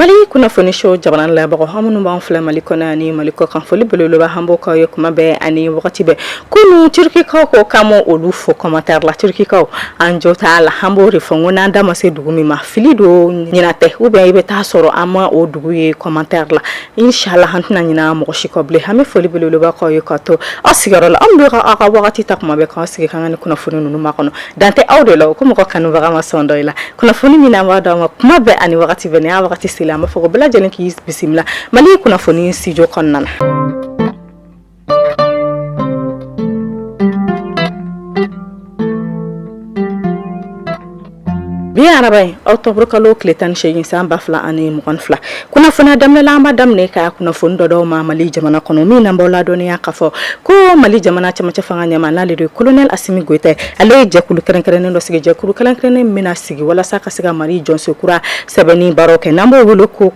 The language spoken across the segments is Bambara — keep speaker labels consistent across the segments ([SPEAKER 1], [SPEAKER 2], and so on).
[SPEAKER 1] Mali kunnafoni show jamana la mɔgɔw aw minnu b'an filɛ Mali kɔnɔ ani Mali kɔkan foli belebeleba an b'o k'aw ye kuma bɛɛ ani wagati bɛɛ kunun turukikaw ko k'an ma olu fo commentaire la turukikaw an jo t'a la an b'o de fɔ n ko n'an da ma se dugu min ma fili don ɲinɛ tɛ ou bien i bɛ taa sɔrɔ an ma o dugu ye commentaire la Inshallah an tɛna ɲinɛ mɔgɔ si kɔ bilen an bɛ foli belebeleba k'aw ye ka to aw sigiyɔrɔ la aw b'aw ka wagati ta kuma bɛɛ k'aw sigi k'an ka nin kunnafoni ninnu makɔnɔ dan tɛ aw de la o ko mɔgɔ kanubaga ma sɔn dɔ i la kunnafoni min n'an b'a d'aw ma kuma bɛɛ ani wagati bɛɛ n'a wagati selen an b'a fɔ ko bɛɛ lajɛlen k'i bisimila Mali kunnafoni studio kɔnɔna na Bi araba in octobre kalo tile tan ni segin san ba fila ani mugan ni fila kunnafoni in daminɛ la an b'a daminɛ ka kunnafoni dɔ d'aw ma mali jamana kɔnɔ min n'an b'aw ladɔnniya k'a fɔ ko mali jamana cɛmancɛ fanga ɲɛmaa n'ale de ye kolonɛli Asimi Goyita ale ye jɛkulu kɛrɛnkɛrɛnnen dɔ sigi jɛkulu kɛrɛnkɛrɛnnen min bɛna sigi walasa ka se ka mali jɔsen kura sɛbɛnni baara kɛ n'an b'o wele ko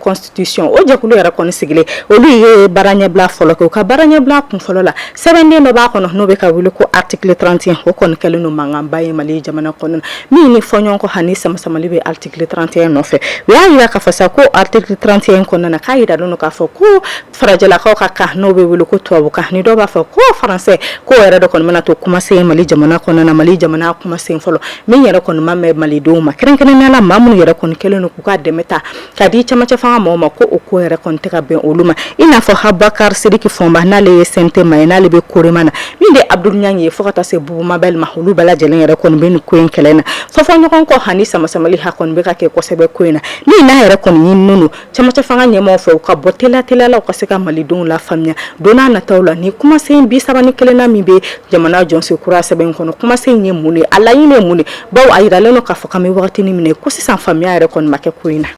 [SPEAKER 1] o jɛkulu yɛrɛ kɔni sigilen olu ye baara ɲɛbila fɔlɔ kɛ u ka baara ɲɛbila kun fɔlɔ la sɛbɛnden dɔ b'a kɔnɔ n'o bɛ ka wele ko article trente et un o kɔni kɛlen don mankanba ye mali jamana kɔnɔ min ni fɔɲɔgɔnkɔ ani sama-samali bɛ article trente et un nɔfɛ u y'a jira k'a fɔ sa ko article trente et un kɔnɔna na k'a jiralen don k'a fɔ ko farajɛlakaw ka kan n'o bɛ wele ko tubabukan ni dɔw b'a fɔ ko faransɛ k'o yɛrɛ de kɔni bɛna to kumasen mali jamana kɔnɔna na mali jamana kumasen fɔlɔ min yɛrɛ kɔni ma bɛn malidenw ma kɛrɛnkɛrɛnnenya la maa minnu yɛrɛ kɔni kɛlen don k'u ka dɛmɛ ta Ka di camancɛ fanga mɔgɔw ma ko o ko yɛrɛ kɔni tɛ ka bɛn olu ma i n'a fɔ Abubakari Sidiki Fɔnba n'ale ye CNT maa ye n'ale bɛ COREMA na min de ye Abuduli Ɲangi ye fo ka taa se Bubu Mabɛli ma olu bɛɛ lajɛlen yɛrɛ kɔni bɛ nin ko in kɛlɛ in na fɔfɔɲɔgɔnkɔ ani sama-samali a kɔni bɛ ka kɛ kosɛbɛ ko in na min n'a yɛrɛ kɔni ɲininen don camancɛ fanga ɲɛmaaw fɛ u ka bɔ teliya teliya la u ka se ka malidenw lafaamuya don n'a nataw la nin kumasen bi saba ni kelennan min bɛ jamana jɔsen kura sɛbɛn in kɔnɔ kumasen in ye mun de ye a laɲini ye mun de ye Bawo a jiralen don k'a fɔ k'an bɛ waati wagati min na ko sisan faamuya yɛrɛ kɔni ma kɛ ko in na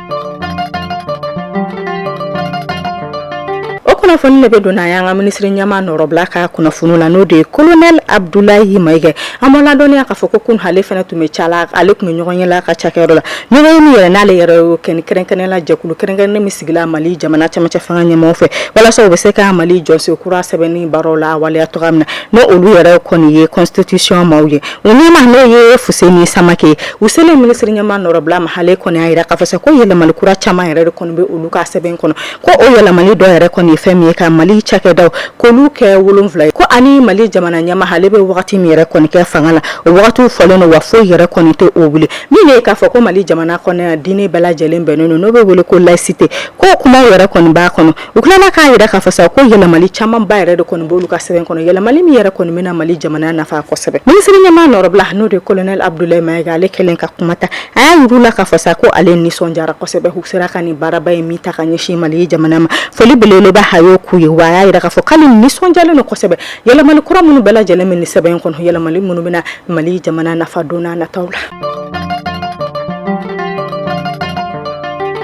[SPEAKER 1] o kunnafoni de bɛ don n'an y'an ka minisiri ɲɛmaa nɔrɔbila ka kunnafoni la n'o de ye kolonɛli Abudulayi Mayiga an b'aw ladɔnniya k'a fɔ ko kunun ale fana tun bɛ ca la ale tun bɛ ɲɔgɔnye la a ka cakɛyɔrɔ la ɲɔgɔn min yɛrɛ n'ale yɛrɛ y'o kɛ ni kɛrɛnkɛrɛnnenya la jɛkulu kɛrɛnkɛrɛnnen min sigila mali jamana cɛmancɛ fanga ɲɛmɔgɔ fɛ walasa u bɛ se ka mali jɔsen kura sɛbɛnni baaraw lawaleya cogo min na n'o olu yɛrɛ kɔni ye constitution maaw ye O ɲɛmaa n'o ye Fuseni Samakɛ u selen minisiri ɲɛmaa nɔrɔbila ma ale kɔni y'a jira k'a fɔ sa ko yɛlɛmali kura caman yɛrɛ de kɔni bɛ olu ka sɛbɛn kɔnɔ ko o yɛlɛmali dɔw yɛrɛ kɔni ye fɛn min ye ka mali cakɛdaw k'olu kɛ wolonwula ye ko ani mali jamana ɲɛmaa ale bɛ wagati min yɛrɛ kɔni kɛ fanga la o waatiw fɔlen don wa foyi yɛrɛ kɔni tɛ o wuli min ye k'a fɔ ko mali jamana kɔnɔ diinɛ bɛɛ lajɛlen bɛnnen don n'o bɛ wele ko layisite ko kuma yɛrɛ kɔni b'a kɔnɔ U tilala k'a yira k'a fɔ sa ko yɛlɛmali caman ba yɛrɛ de kɔni b'olu ka sɛbɛn kɔnɔ yɛlɛmali min yɛrɛ kɔni bɛna mali jamana nafa kosɛbɛ minisiriɲɛmaa nɔrɔbila n'o de kolonɛli abudulayi mayiga ale kɛlen ka kuma ta a y'a yir'u la k'a fɔ sa ko ale nisɔndiyara kosɛbɛ u sera ka nin baaraba in min ta ka ɲɛsin mali jamana ma foli belebeleba a y'o k'u ye wa a y'a jira k'a fɔ k'ale nisɔndiyalen don kosɛbɛ yɛlɛmali kura minnu bɛɛ lajɛlen bɛ nin sɛbɛn in kɔnɔ yɛlɛmali minnu bɛna mali jamana nafa don n'a nataw la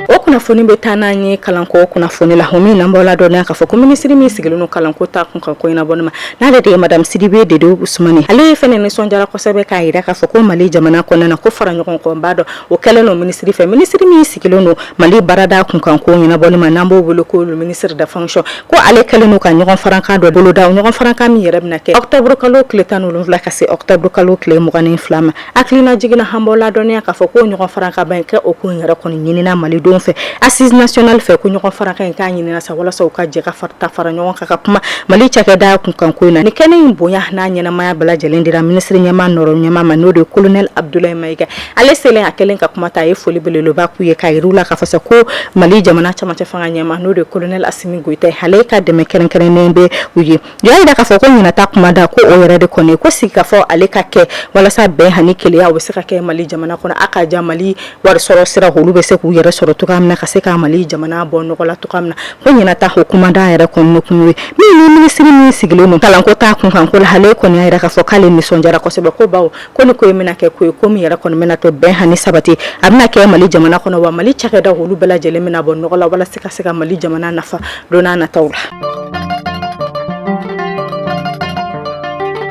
[SPEAKER 1] o kunnafoni bɛ taa n'an ye kalanko kunnafoni la min n'an b'aw ladɔnniya k'a fɔ ko minisiri min sigilen don kalanko ta kunkan ko ɲɛnabɔli ma n'ale de ye madamu sidibe dedewu usumani ale ye fɛnɛ nisɔndiyara kosɛbɛ k'a jira k'a fɔ ko mali jamana kɔnɔna na ko fara ɲɔgɔn kanba dɔ o kɛlen don minisiri fɛ minisiri min sigilen don mali baarada kunkan ko ɲɛnabɔli ma n'an b'o wele ko ministre de fonction ko ale kɛlen don ka ɲɔgɔn farankan dɔ boloda ɲɔgɔn farankan min yɛrɛ bɛna kɛ ɔkutɔburu kalo tile tan ni wolonfila ka se ɔkutɔburu kalo tile mugan ni fila ma hakilina jiginna an b'aw ladɔnniya k'a fɔ ko ɲɔgɔn farankanba in kɛ o ko yɛrɛ kɔni ɲinina malidenw fɛ assises nationales fɛ ko ɲɔgɔn farankan in k'a ɲinina sa walasa u ka jɛ ka taa fara ɲɔgɔn kan ka kuma mali cakɛda kunkan ko in na ni kɛnɛ in bonya n'a ɲɛnaɛnɛmaya bɛɛ lajɛlen dira minisiri ɲɛmaa nɔ ɲɛmaa ma n'o de ye kolonɛli abudulayi mayiga Ale selen a kɛlen ka kuma ta a ye foli belebeleba k'u ye k'a yir'u la k'a fɔ sa ko mali jamana camancɛ fanga ɲɛmaa n'o de kolonɛli asimi goyita ale ka dɛmɛ kɛrɛnkɛrɛnnen bɛ u ye u y'a jira k'a fɔ ko ɲinan ta kumada ko o yɛrɛ de kɔni ko sigi ka fɔ ale ka kɛ walasa bɛn ani kelenya u bɛ se ka kɛ mali jamana kɔnɔ a ka jan mali wari sɔrɔ sira olu bɛ se k'u yɛrɛ sɔrɔ cogoya min na ka se ka mali jamana bɔ nɔgɔ la cogoya min na ko ɲinan ta o kumada yɛrɛ kɔni kun ye ni minisiri min sigilen don kalanko ta kunkan ko la ale kɔni y'a yira k'a fɔ k'ale nisɔndiyara kosɛbɛ ko bawo ko ni ko in bɛna kɛ ko ye ko min yɛrɛ kɔni bɛna to bɛn ani sabati a bɛna kɛ mali jamana kɔnɔ wa mali cakɛda olu bɛɛ lajɛlen bɛna bɔ nɔgɔ la walasa ka se ka mali jamana nafa don n'a nataw la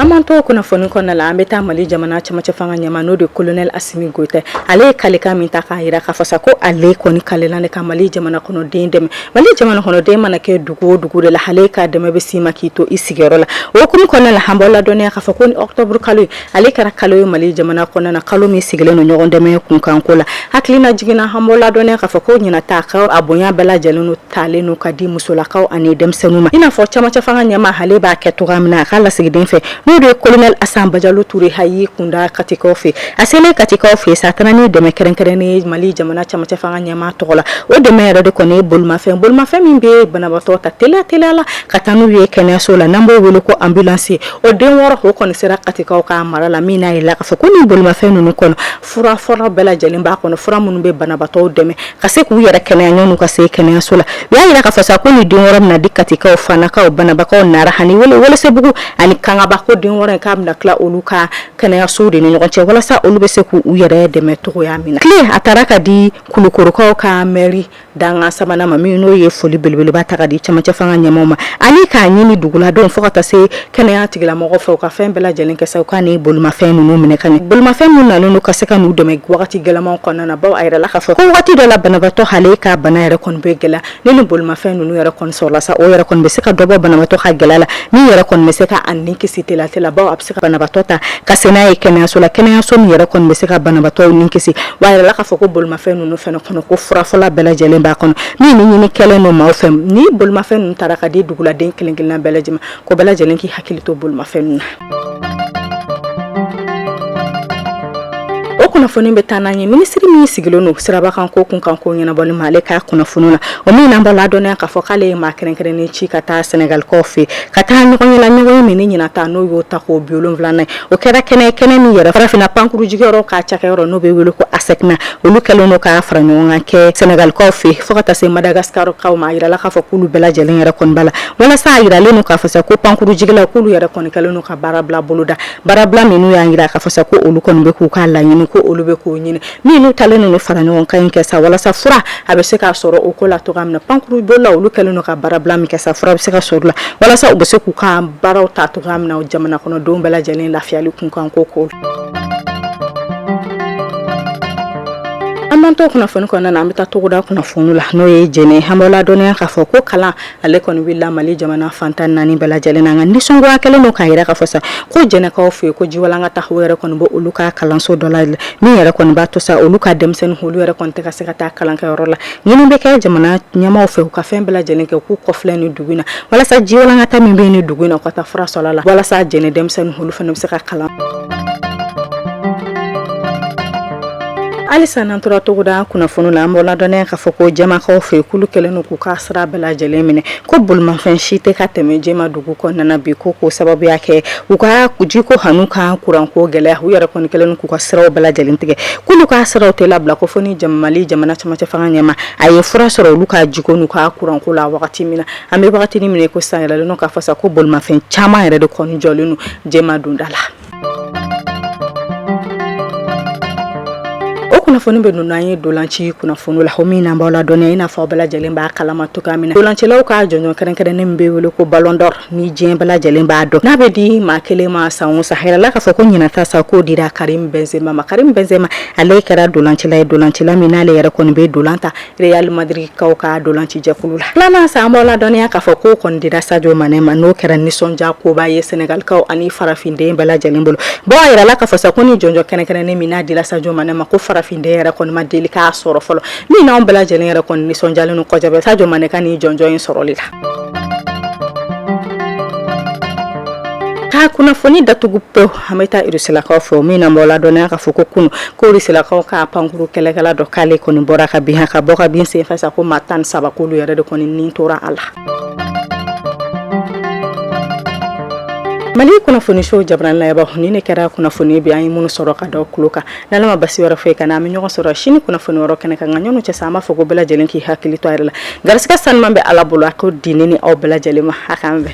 [SPEAKER 1] an mana to kunnafoni kɔnɔna la an bɛ taa mali jamana cɛmancɛ fanga ɲɛmaa n'o de kolonɛli asimi goyita ale ye kalekan min ta k'a jira k'a fɔ sa ko ale kɔni kalela de ka mali jamana kɔnɔden dɛmɛ Mali jamana kɔnɔden mana kɛ dugu o dugu de la ale ka dɛmɛ bɛ s'i ma k'i to i sigiyɔrɔ la o hukumu kɔnɔna la an b'aw ladɔnniya k'a fɔ ko nin ɔkutɔburu kalo ye ale kɛra kalo ye mali jamana kɔnɔna na kalo min sigilen don ɲɔgɔn dɛmɛ kunkanko la hakilina jiginna an b'aw ladɔnniya k'a fɔ ko ɲinan ta ka a bonya bɛɛ lajɛlen don talen don ka di musolakaw ani denmisɛnninw ma i n'a fɔ camancɛ fanga ɲɛmaa ale b'a kɛ cogoya min na a ka lasigiden fɛ n'o de ye kolonɛli asa bajalo ture a y'i kunda katikaw fɛ A selen katikaw fɛ sa tan ni dɛmɛ kɛrɛnkɛrɛnnen mali jamana camancɛ fanga ɲɛmaa tɔgɔ la o dɛmɛ yɛrɛ de kɔni ye bolimafɛn min bɛ banabatɔ ta teliya la ka taa n'u ye kɛnɛyaso la n'an b'o weele ko ambulance o den wɔɔrɔ o kɔni sera katikaw ka mara la min n'a yela k'a fɔ ko nin bolimafɛn ninnu kɔnɔ fura fɔlɔ bɛɛ lajɛlen b'a kɔnɔ fura minnu bɛ banabatɔ dɛmɛ ka se k'u yɛrɛ kɛnɛya ka se kɛnɛyaso la u y'a jira k'a fɔ sa ko nin den wɔɔrɔ bɛna di katikaw fanakaw bananbakaw nara ani welesebugu ani kangaba ko den wɔɔrɔ in k'a bɛna tila olu kan kɛnɛyasow de ni ɲɔgɔn cɛ walasa olu bɛ se k' u yɛrɛ dɛmɛ cogoya min na kile a taara ka di kulukorokaw ka mɛri dankan sabanan ma min n'o ye foli belebeleba ta ka di cɛmancɛ fanga ɲɛmaw ma ani k'a ɲini duguladenw fo ka taa se kɛnɛya tigilamɔgɔw fɛ u ka fɛn bɛɛ lajɛlen kɛ sa u ka ni bolimafɛn ninnu minɛ ka ɲɛ bolimafɛn minnu nalen don ka se ka n'u dɛmɛ waati gɛlɛman kɔnɔna na baw a yirala k'a fɔ ko waati dɔ la banabagatɔ ale ka bana yɛrɛ kɔni bɛ gɛlɛ ni ni bolimafɛn ninnu yɛrɛ kɔni sɔrɔla sa o yɛrɛ kɔni bɛ se ka dɔ bɔ banabatɔ ka gɛlɛya la min yɛrɛ kɔni bɛ se ka a ni kisi telatela baw a bɛ se ka banabatɔ ta ka se n'a ye kɛnɛyaso la kɛnɛyaso min yɛrɛ kɔni bɛ se ka banabatɔ ni kisi wa a yirala k'a fɔ ko bolimafɛn ninnu fana kɔnɔ ko fura fɔlɔ bɛɛ lajɛlen b'a kɔnɔ min ni ɲini kɛlen don maaw fɛ ni bolimafɛn ninnu taara ka di duguladen kelen-kelenna bɛɛ lajɛlen ma ko bɛɛ lajɛlen k'i hakili to bolimafɛn ninnu na o kunnafoni bɛ taa n'an ye minisiri min sigilen don sirabakanko kunkanko ɲɛnabɔli ma ale ka kunnafoni na o min n'an b'aw ladɔnniya k'a fɔ k'ale ye maa kɛrɛnkɛrɛnnen ci ka taa sɛnɛgalikaw fɛ ka taa ɲɔgɔnye la ɲɔgɔnye min ni ɲinan ta n'o y'o tako bi wolonwula ye o kɛra kɛnɛ kɛnɛ min yɛrɛ farafinna pankurujigiyɔrɔ ka cakɛyɔrɔ n'o bɛ wele ko ASECNA olu kɛlen don ka fara ɲɔgɔn kan kɛ sɛnɛgalikaw fɛ fo ka taa se madagaskar ma a jirala k'a fɔ k'olu bɛɛ lajɛlen yɛrɛ kɔni b'a la Walasa a jiralen don k'a fɔ sa ko pankurujigilaw k'olu yɛrɛ kɔni kɛlen don ka baarabila boloda baarabila minnu y'a jira k'a fɔ sa ko olu kɔni bɛ k'u ka laɲini ko olu bɛ k'o ɲini minnu talen don fara ɲɔgɔn kan in kɛ sa walasa fura bɛ se ka sɔrɔ o ko la cogoya min na pankurubolila olu kɛlen don ka baarabila min kɛ sa fura bɛ se ka sɔrɔ la walasa u bɛ se k'u ka baaraw ta cogoya min na jamana kɔnɔdenw bɛɛ lajɛlen lafiyali kunkanko ko an to kunnafoni kɔnɔna na an bɛ taa togoda kunnafoni la n'o ye jɛnɛ an b'aw ladɔnniya k'a fɔ ko kalan ale kɔni wulila mali jamana fan tan ni naani bɛɛ lajɛlen na nka nisɔngoya kɛlen don k'a yira k'a fɔ sa ko jɛnɛkaw fɛ yen ko jiwalankata yɛrɛ kɔni bɛ olu ka kalanso dɔ la min yɛrɛ kɔni b'a to sa olu ka denmisɛnnin olu yɛrɛ kɔni tɛ ka se ka taa kalankɛyɔrɔ la ɲini bɛ kɛ jamana ɲɛmaw fɛ u ka fɛn bɛɛ lajɛlen kɛ k'u kɔfilɛ ni dugu na walasa jiwalankata min bɛ ni dugu na u ka taa fura sɔrɔ la walasa jɛnɛ denmisɛnnin olu fana bɛ se ka kalan halisa n'an tora togoda kunnafoni la an b'aw ladɔnniya k'a fɔ ko jɛmakaw fɛ k'olu kɛlen don k'u ka sira bɛɛ lajɛlen minɛ ko bolimafɛn si tɛ ka tɛmɛ jɛma dugu kɔnɔna bi ko k'o sababuya kɛ u ka jiko an'u ka kuranko gɛlɛya u yɛrɛ kɔni kɛlen don k'u ka siraw bɛɛ lajɛlen tigɛ k'olu ka siraw tɛ labila ko fo ni mali jamana cɛmancɛ fanga ɲɛmaw ye fura sɔrɔ olu ka jiko n'u ka kuranko la wagati min na an bɛ wagati min na ko sa a yirala k'a fɔ sa ko bolimafɛn caman yɛrɛ de kɔni jɔlen don jɛma donda la kunnafoni bɛ don n'an ye dolanci kunnafoni la o min n'an b'aw ladɔnniya i n'a fɔ bɛɛ lajɛlen b'a kalama cogoya min na dolancilaw ka jɔnjɔn kɛrɛnkɛrɛnnen min bɛ wele ko balɔn dɔri ni diɲɛ bɛɛ lajɛlen b'a dɔn n'a bɛ di maa kelen ma san o san a yirala k'a fɔ ko ɲinan ta sa k'o dira karimu bɛnzema ma karimu bɛnzema ale kɛra dolancila ye dolancila min n'ale yɛrɛ kɔni bɛ dolan ta Real Madrid kaw ka ntolacijɛkulu la, filanan sa an b'aw ladɔnniya k'a fɔ k'o kɔni dira Sadio Mane ma n'o kɛra nisɔndiya koba ye Senegal kaw ani farafinden bɛɛ lajɛlen bolo, bon a jirala k'a fɔ sa ko nin jɔnjɔn kɛrɛnkɛrɛnnen min n'a dira Sadio Mane ma ko farafinden yɛrɛ kɔni ma deli k'a sɔrɔ fɔlɔ, min n'anw bɛɛ lajɛlen yɛrɛ kɔni nisɔndiyalen don kosɛbɛ Sadio Mane ka nin jɔnjɔn in sɔrɔli la. Ka kunnafoni datugu pewu. an bɛ taa irisilakaw fɛ o min na b'aw ladɔnniya k'a fɔ ko kunu ko irisilakaw ka pankkuru kɛlɛkɛla dɔ k'ale kɔni bɔra ka bin ka bɔ ka bin senfɛ sa ko maa tan ni saba k'olu yɛrɛ de kɔni nin tora a la mali kunnafoniso jamana na ninnu kɛra kunnafoni bi an ye minnu sɔrɔ k'a da tulo kan n'ala ma basi wɛrɛ foyi k'an na an bɛ ɲɔgɔn sɔrɔ sini kunnafoni wɛrɛ kɛnɛ kan nka ɲɔgɔn cɛ sa an b'a fɔ ko bɛɛ lajɛlen k'i hakili to i yɛrɛ la garisigɛ sanuman bɛ ala bolo a k'o di ne ni aw bɛɛ lajɛlen ma ha bɛɛ